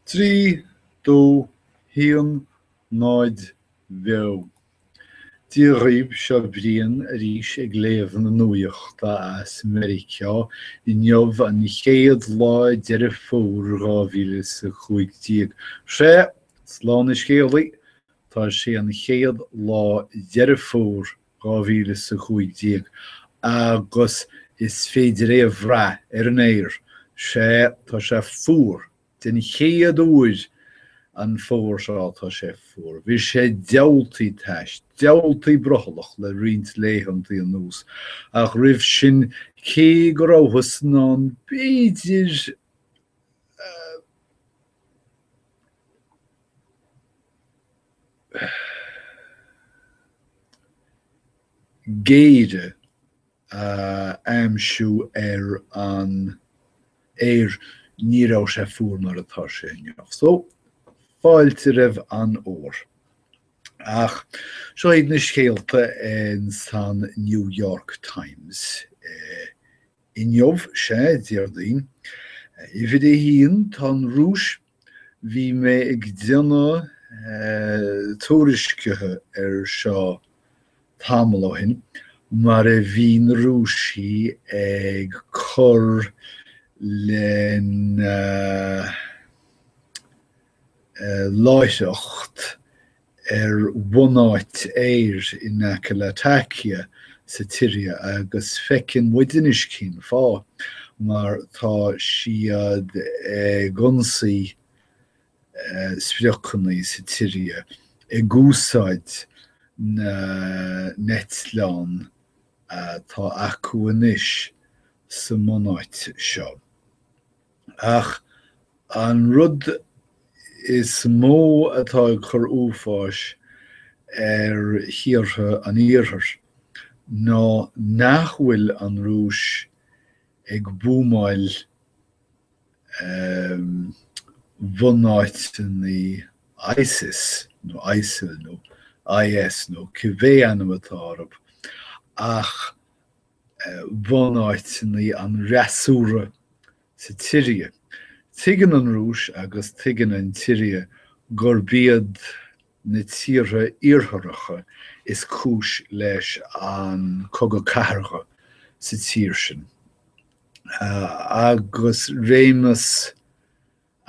Trí, dó, haon, náid, bheo. Dia dhaoibh, seo Brian arís ag léamh na nuaíochta as Meiriceá, inniu an chéad lá Deireadh Fómhair 2015. Sea, slán a scéalaí, tá sé an chéad lá Deireadh Fómhair 2015 agus is féidir é a bhrath ar an aer, sea, tá sé fuar, den chéad uair an fómhar seo tá sé fuar. Bhí sé diabhaltaí tais, diabhaltaí brothallach le roinnt laethanta anuas ach roimh sin cé go rabhthas in ann b'fhéidir, eh, géire a aimsiú ar an aer ní raibh sé fuair mar atá sé inniu. So fáilte roimh an bhfómhar. Ach seo iad na scéalta in san New York Times eh, Inniu 'sea Déardaoin. Uimhir a haon tá an Rúis. Bhí mé ag déanamh tuairiscithe ar seo tamall ó shin mar a bhí na Rúisigh ag cur lena láithreacht ar bhunáit aeir in aice Latakia sa tSiria agus feiceann muid anois cén fáth, mar tá siad ag ionsaí spriocanna sa tSiria ag úsáid na n-eitleán atá acu anois sa mbunáit seo. Ach an rud is mó atá ag cur uafáis ar thíortha an Iarthair ná nach bhfuil an Rúis ag buamáil bhunáiteanna ISIS nó ISIL nó IS nó cibé ainm atá orab ach bhunáiteanna an fhreasúra sa tSiria. Tuigeann an Rúis agus tuigeann an tSiria gurb iad na tíortha Iartharacha is cúis leis an cogadh cathartha sa tír sin. Agus réimeas.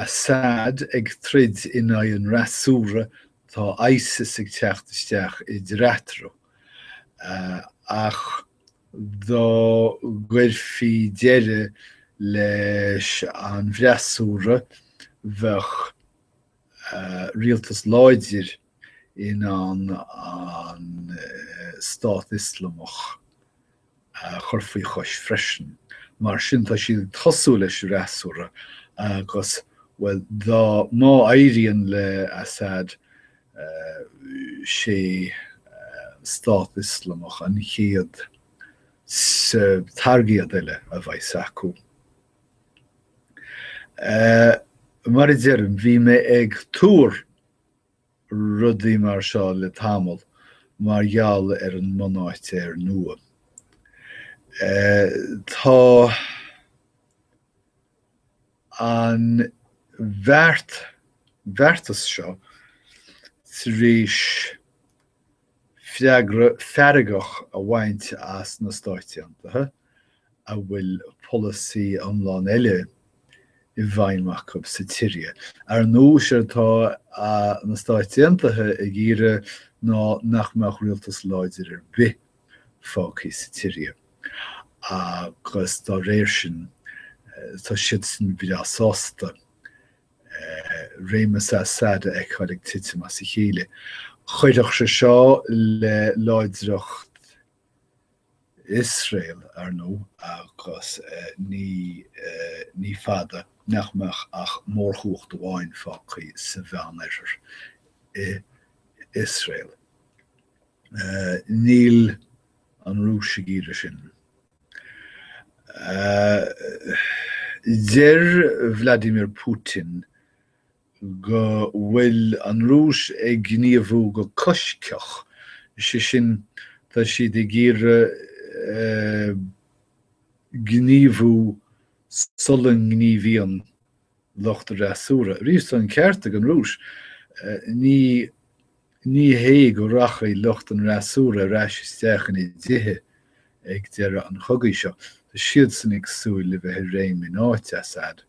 Assad ag troid in aghaidh an fhreasúra, tá Isis ag teacht isteach eatarthu. Ach dá gcuirfí deireadh leis an bhfreasúra, bheadh rialtas láidir in ann an Stát Ioslamach a chur faoi chois freisin. Mar sin tá siad ag tosú leis an fhreasúra agus, bhuel, dá, má éiríonn le Assad, sé an Stát Ioslamach an chéad targaid eile a bheas acu. Mar a deirim, bhí mé ag tuar rudaí mar seo le tamall mar gheall ar an mbunáit aeir nua. Tá an bheart, bheartas seo tar éis. freagra feargach a bhaint as na Stáit Aontaithe a bhfuil polasaí iomlán eile i bhfeidhm acu sa tSiria. Ar ndóigh, séard atá na Stáit Aontaithe ag iarraidh ná nach mbeadh rialtas láidir ar bith fágtha sa tSiria agus dá réir sin tá siadsan breá sásta réimeas Assad a fheiceáil ag titim as a chéile. Chuideodh sé seo le láidreacht Iosrael, ar ndóigh, agus ní, ní fada nach mbeadh ach mórchumhacht amháin fágtha sa Mheánoirthear, Iosrael. Níl an Rúis ag iarraidh sin. Deir Vladimir Putin go bhfuil an Rúis ag gníomhú go coisctheach, sé sin tá siad ag iarraidh gníomhú sula ngníomhaíonn lucht an fhreasúra. Arís, tá an ceart ag an Rúis. Ní hé go rachaidh lucht an fhreasúra ar ais isteach ina dtithe ag deireadh an chogaidh seo. Tá siadsan ag súil le bheith i réim in áit Assad.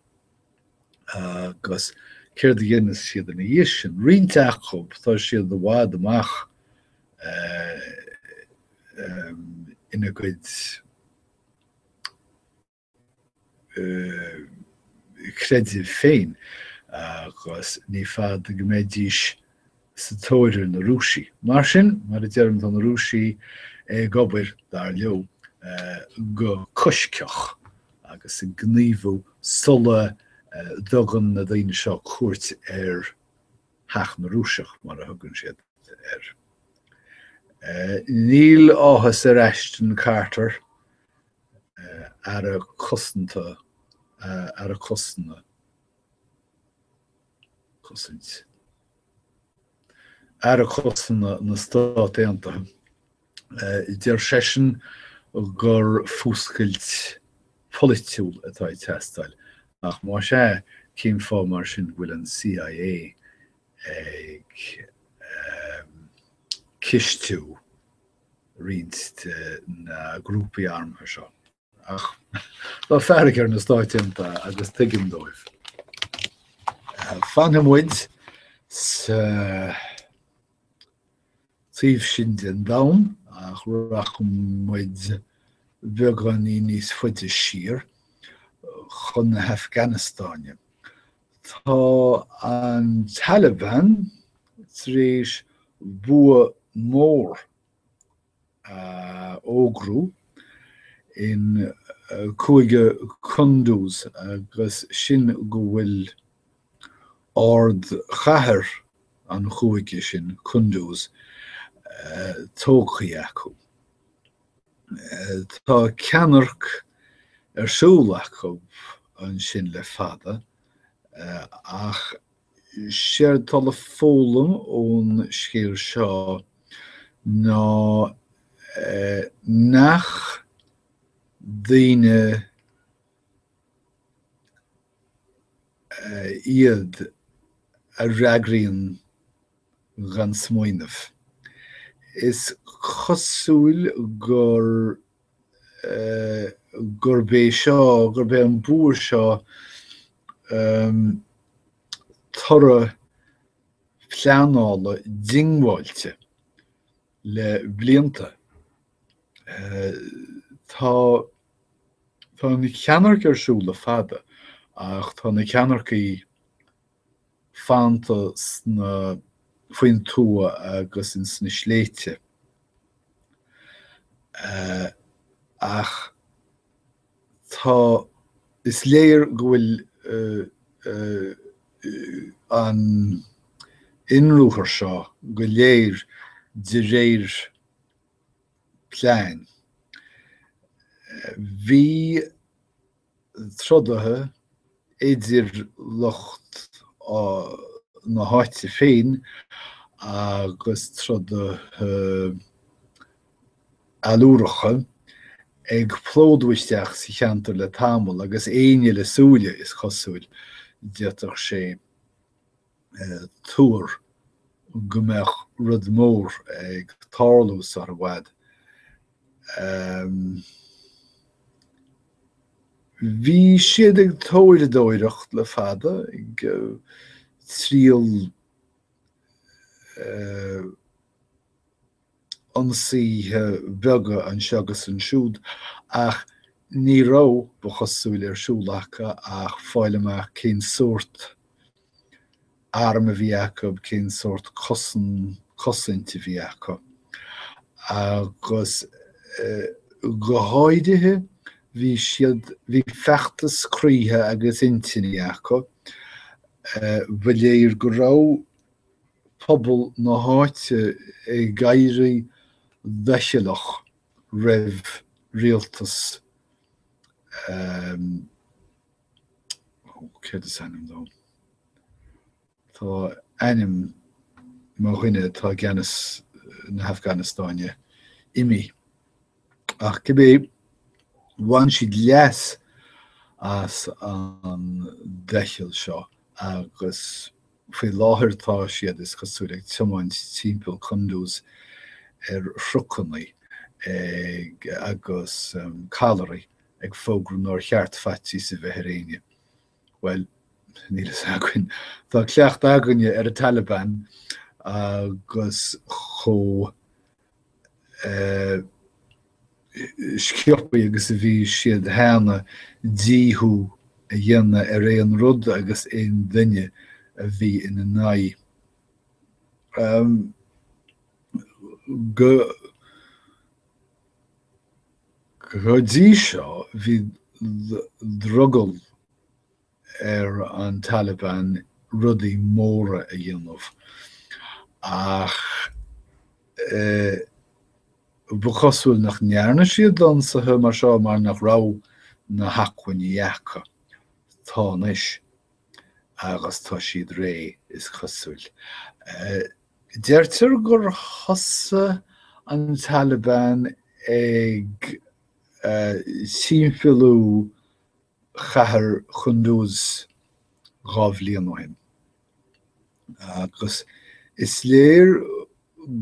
Agus céard a dhéanfas siad ina dhiaidh sin? Roinnt acu, tá siad i bhfad amach ina gcuid chreidimh féin agus ní fada go mbeidís sa tóir ar na Rúisigh. Mar sin, mar a deirim, tá na Rúisigh ag obair, dar leo, go coisctheach agus ag gníomhú sula dtugann na daoine seo cuairt ar Theach na Rúiseach, mar a thugann siad air. Níl áthas ar Ashton Carter Aire cosanta, aire cosanta, cosaint. Aire cosanta na Stát Aontaithe, deir seisean gur fuascailt pholaitiúil atá ag teastáil, ach más ea, cén fáth mar sin go bhfuil an CIA ag cistiú, roinnt de na grúpaí armtha seo. Ach tá fearg ar na Stáit Aontaithe agus tuigim dóibh. Fanfaidh muid sa taobh sin den domhan ach rachaidh muid beagáinín níos faide siar chun na hAfganastáine. Tá an Taliban tar éis bua mór a fhógairt in Cúige Kunduz agus sin go bhfuil ardchathair an chúige sin, Kunduz, tógtha acu. Tá ceannairc ar siúl acu ansin le fada, ach séard atá le foghlaim ón scéal seo ná nach daoine iad a fhreagraíonn gan smaoineamh. Is cosúil gur gurb é seo, gurb é an bua seo toradh pleanála diongbháilte le blianta. Tá an cheannairc ar siúl le fada ach tá na ceannaircigh fanta sna faoin tuath agus ins na sléibhte ach tá is léir go bhfuil an inruathar seo go léir de réir plean. Bhí trodaithe idir lucht na háite féin agus trodaithe allúracha ag plódú isteach sa cheantar le tamall agus éinne le súile, is cosúil, d'fhéadfadh sé tuar go mbeadh rud mór ag tarlú sar i bhfad. Bhí siad ag taighdeoireacht le fada ag triail ionsaithe beaga anseo agus ansiúd, ach ní raibh, ba chosúil, ar siúl acu ach fáil amach cén sórt arm a bhí acu, cén sórt cosain cosaint a bhí acu. Agus go háirithe, bhí siad, bhí feachtas croíthe agus intinní acu. Ba léir go raibh. pobal na háite ag éirí doicheallach roimh rialtas céard is ainm dó? Tá ainm mo dhuine atá i gceannas na hAfganastáine imithe. Ach cibé bhain siad leas as an doicheall seo agus Faoi láthair tá siad, is cosúil, ag tiomáint timpeall Kunduz ar thrucannaí agus callairí ag fógra nár cheart faitíos a bheith ar éinne. Bhuel, níl fhios againn. Tá cleachtadh againne ar an Taliban agus chomh sciobtha agus a bhí siad cheana, díothú a dhéanamh ar aon rud agus aon duine a bhí ina n-aghaidh. Go dtí seo bhí drogall ar an Taliban rudaí móra a dhéanamh ach ba chosúil nach ndearna siad ionsaithe mar seo mar nach raibh na hacmhainní acu. tá anois agus tá siad réidh is cosúil. Deirtear gur thosaigh an Taliban ag timpeallú cathair Chunduz dhá bhliain ó shin agus is léir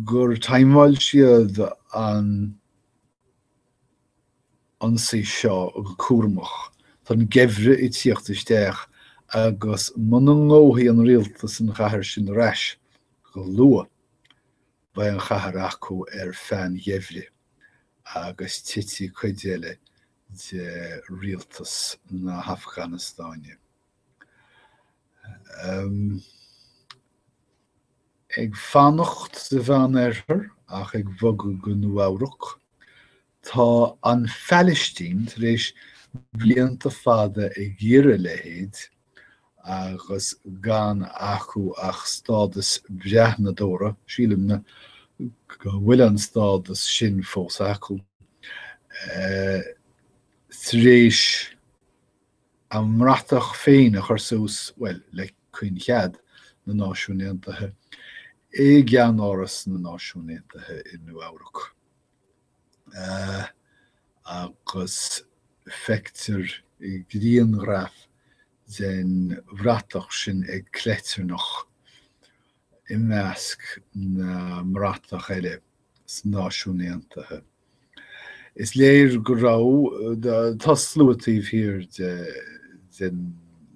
gur thaimeáil siad an ionsaí seo go cúramach. Tá an geimhreadh ag tíocht isteach agus muna ngnóthaíonn an rialtas an chathair sin ar ais go luath beidh an chathair acu ar feadh an gheimhridh agus titfidh cuid eile de rialtas na hAfganastáine. Ag fanacht sa Mheán Oirthear ach ag bogadh go Nua-Eabhrac, tá an Phalaistín tar éis blianta fada ag iarraidh a leithéid agus gan acu ach stádas breathnadóra, sílimse go bhfuil an stádas sin fós acu, tar éis a mbratach féin a chur suas, bhuel, le caoinchead na Náisiún Aontaithe, i gceannáras na Náisiún Aontaithe i Nua-Eabhrac. agus feictear i ngrianghraf den bhratach sin ag cleitearnach i measc na mbratach eile sna Náisiúin Aontaithe. Is léir go raibh, tá sluaite taobh thiar de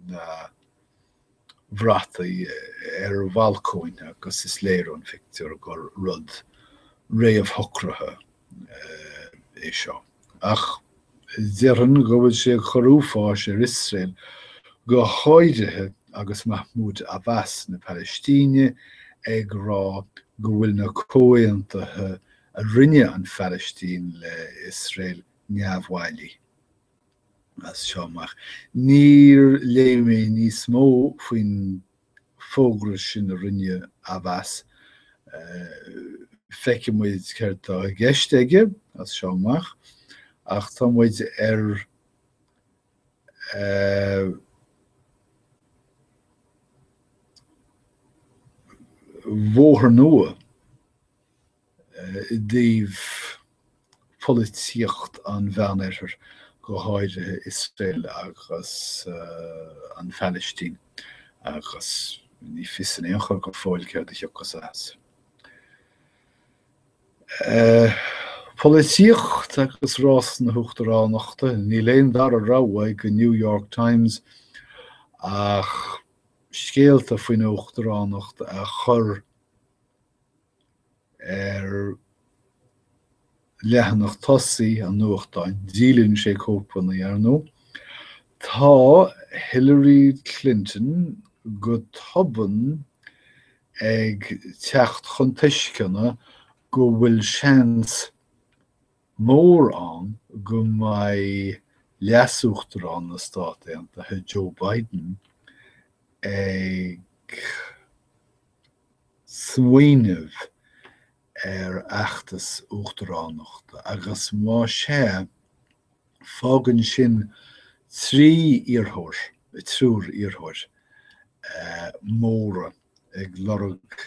na. bhrataí ar bhalcóin agus is léir ón phictiúr gur rud réamhshocraithe é seo. Ach déarfainn go bhfuil sé ag chur uafáis ar Iosrael go háirithe agus Mahmoud Abbas na Palaistíne ag rá go bhfuil na comhaontaithe a rinne an Phalaistín le hIosrael neamhbhailí. As seo amach, níor léigh mé níos mó faoin bhfógra sin a rinne Abbas. Feicfidh muid céard atá i gceist aige as seo amach, ach tá muid ar bhóthar nua. i dtaobh pholaitíocht an Mheánoirthir, go háirithe Iosrael agus an Phalaistín, agus ní fios in aon chor go fóill céard a thiocfas as. Polaitíocht agus rás na huachtaránachta, níl aon dara rogha ag an New York Times ach scéalta faoin uachtaránacht a chur, Ar leathanach tosaigh an nuachtáin, díolann sé cóipeanna, ar ndó, tá Hillary Clinton go tobann ag teacht chun tuisceana go bhfuil seans mór ann go mbeidh leasuachtarán na Stát Aontaithe, Joe Biden, ag. smaoineamh ar fheachtas uachtaránachta agus más é, fágann sin trí iarrth-, triúr iarrthóir móra ag lorg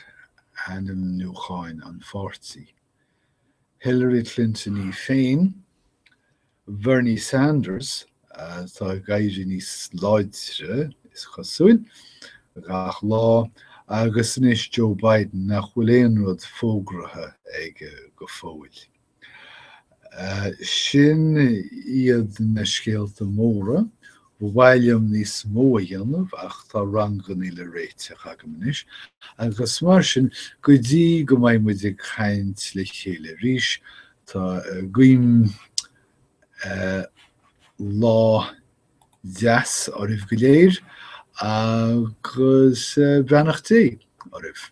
ainmniúcháin an pháirtí, Hillary Clinton í féin, Bernie Sanders atá ag éirí níos láidre, is cosúil, gach lá agus anois Joe Biden nach bhfuil aon rud fógraithe aige go fóill. Sin iad na scéalta móra, ba mhaith liom níos mó a dhéanamh ach tá rangannaí le réiteach agam anois agus mar sin go dtí go mbeidh muid ag caint le chéile arís, Tá guím lá deas oraibh go léir agus beannacht Dé oraibh.